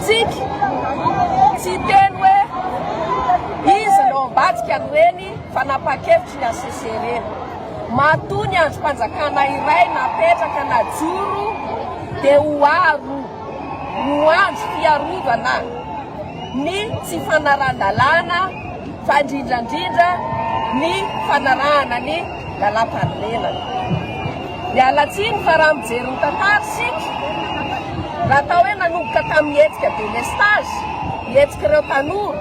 Tsiky! Tsy hiteny hoe iza no ambadika ny reny fanapahan-kevitry ny HCC ireny. Matoa ny andrim-panjakana iray napetraka najoro dia ho aro ho andro fiarovana ny tsy fanarahan-dalàna fa indrindrandrindra ny fanarahana ny Lalampahamelana. Miala tsiny fa raha mijery ny tantara isika, raha atao hoe nanomboka tamin'ny hetsika delestage, ny hetsik'ireo tanora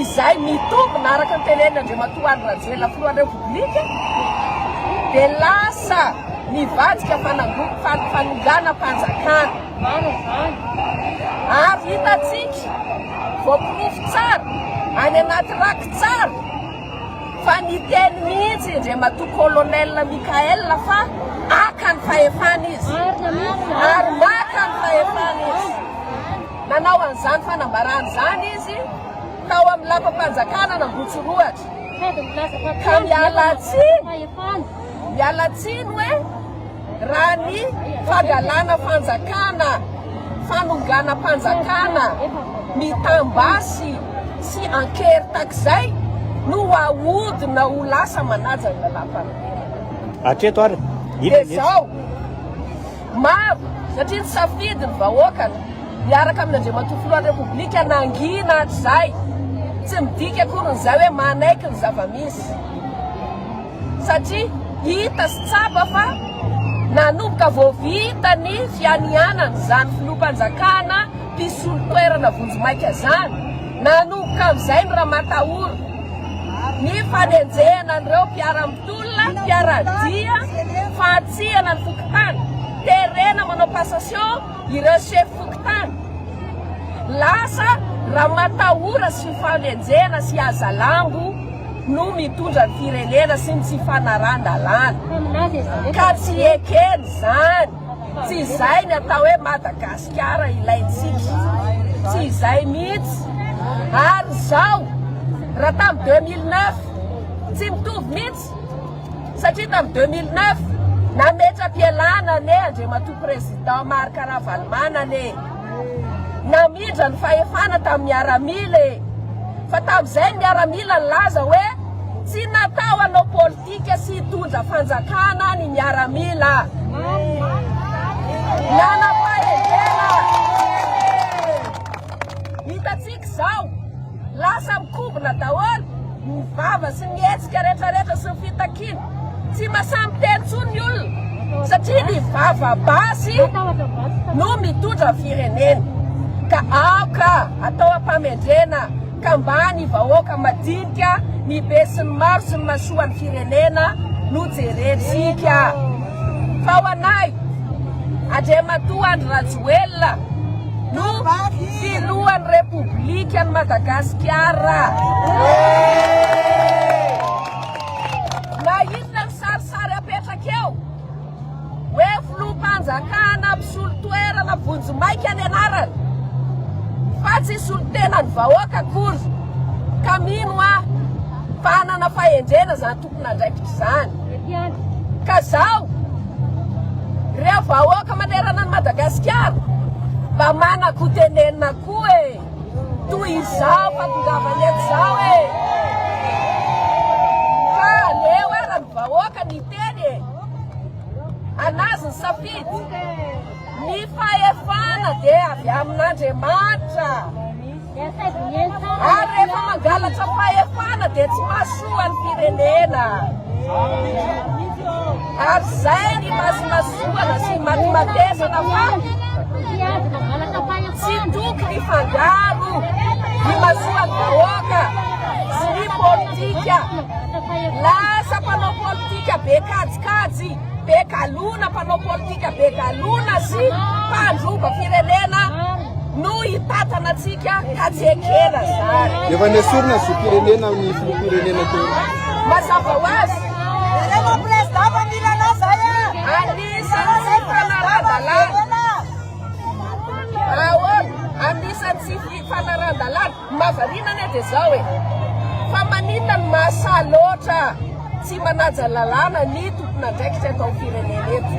izay mitombina araka ny tenenin' Andriamatoa Andry Rajoelina filohan'ny Repoblika dia lasa mivadika fanangonam panonganam-panjakana. Marina izany. Ary hitantsika voaporofo tsara any anaty rakitsary Fa niteny mihitsy i Ndriamatoa Colonel Michael fa haka ny fahefana izy ary maka ny fahefana izy. Nanao an'izany fanambarana izany izy tao amin'ny lapam-panjakana an'Ambohitsorohatra. Ka miala tsiny, miala tsiny hoe. Raha ny fangalana fanjakana, fanonganam-panjakana, mitam-basy sy ankery takizay no ahodina ho lasa manaja ny lalam-panambinana. Hatreto ary, inona ny hetsika? Dia izao, maro, satria ny safidy ny vahoaka miaraka amin' Andriamatoa Filohan'ny Repoblika nangina hatrizay, tsy midika akory ny izay hoe manaiky ny zava-misy. satria hita sy tsapa fa nanomboka vao vita ny fianianan izany filoham-panjakana mpisolo toerana vonjimaika izany, nanomboka amin'izay ny ramatahora, ny fanenjehana an'ireo mpiara-mitolona, mpiara-dia, fahatsihana ny fokontany, terena manao passation ireo sefo fokontany, lasa ramatahora sy fanenjehana sy hazalambo. no mitondra ny firenena sy ny tsy fanarahan-dalàna ka tsy ekeny izany, tsy izay ny atao hoe Madagasikara ilaintsika, tsy izay mihitsy ary izao raha tamin'ny deux mille neuf tsy mitovy mihitsy satria tamin'ny deux mille neuf nametra-pialana anie Andriamatoa Président Marc Ravalomanana e! Namindra ny fahefana tamin'ny miaramila e! Fa tamin'izay ny miaramila nilaza hoe tsy natao hanao politika sy hitondra fanjakana ny miaramila. Nanam-pahendrena! Hitantsika izao. Lasa mikobona daholo ny vava sy ny hetsika rehetra rehetra sy ny fitakiana. Tsy masaha miteny intsony ny olona satria ny vava basy no mitondra firenena. Ka aoka atao ampamendrena ka mba ny vahoaka madinika, ny be sy ny maro sy ny masoa ny firenena no jerentsika. Fa ho anay, Andriamatoa Andry Rajoelina no. Filohan'ny Repoblikan'i Madagasikara. Na inona ny sarisary apetraka eo hoe filoham-panjakana mpisolo toerana vonjimaika ny anarany fa tsy solontenan'ny vahoaka akory ka mino aho fa hanana fahendrena izany tompon'andraikitr'izany. Ka zao, reo vahoaka manerana an'i Madagasikara mba manako tenenina koa e! Toy izao fahatongavany eto zao e! Fa aleo ara ny vahoaka niteny e! An'azy ny safidy! Ny fahefana dia avy amin'Andriamanitra, ary rehefa mangalatra fahefana dia tsy mahasoa ny firenena. Ary izay ny masimasoana sy ny matimatesana fa tsy tokony hifangaro ny masoan'ny vahoaka sy ny politika. Lasa mpanao politika be kajikajy. be galona, mpanao politika be galona sy mpandroba firenena no hitantana antsika ka tsy ekena zany. Efa nesorina ny zom-pirenena amin'ny filoham-pirenena teo. Mazava ho azy. Rehefa prezida fa mila anao zay e. Anisan'ny tsy fanarahan-dalàna. Ahoana? Anisan'ny tsy fanarahan-dalàna. Ny mahavariana anie dia izao e! Fa maninona no mahasahy loatra tsy manaja lalàna ny tompon'andraikitra eto amin'ny firenena eto?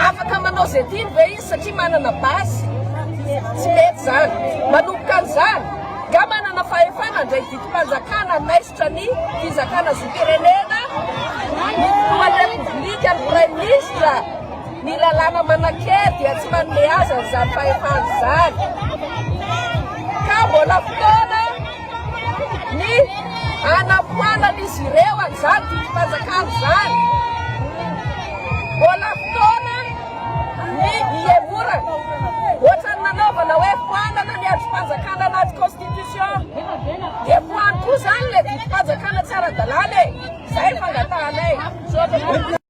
Afaka manao izay tiany ve izy satria manana base? Tsy mety izany. Manomboka an'izany, nga manana fahefana handray didim-panjakana anaiza? Minisitra ny Fizakana Zom-pirenena, ny Filohan'ny Repoblika, ny Praiminisitra, ny lalàna manan-kery dia tsy manome azy an'izany fahefana izany. Ka mbola fotoana ny hanafoanan'izy ireo an'izany didim-panjakana izany. Mbola fotoana ny hihemorana. Ohatran'ny nanaovana hoe foanana ny andrim-panjakana anaty constitution dia voarokoa izany ilay vidim-panjakana tsy ara-dalàna e! Izay no fangatahanay.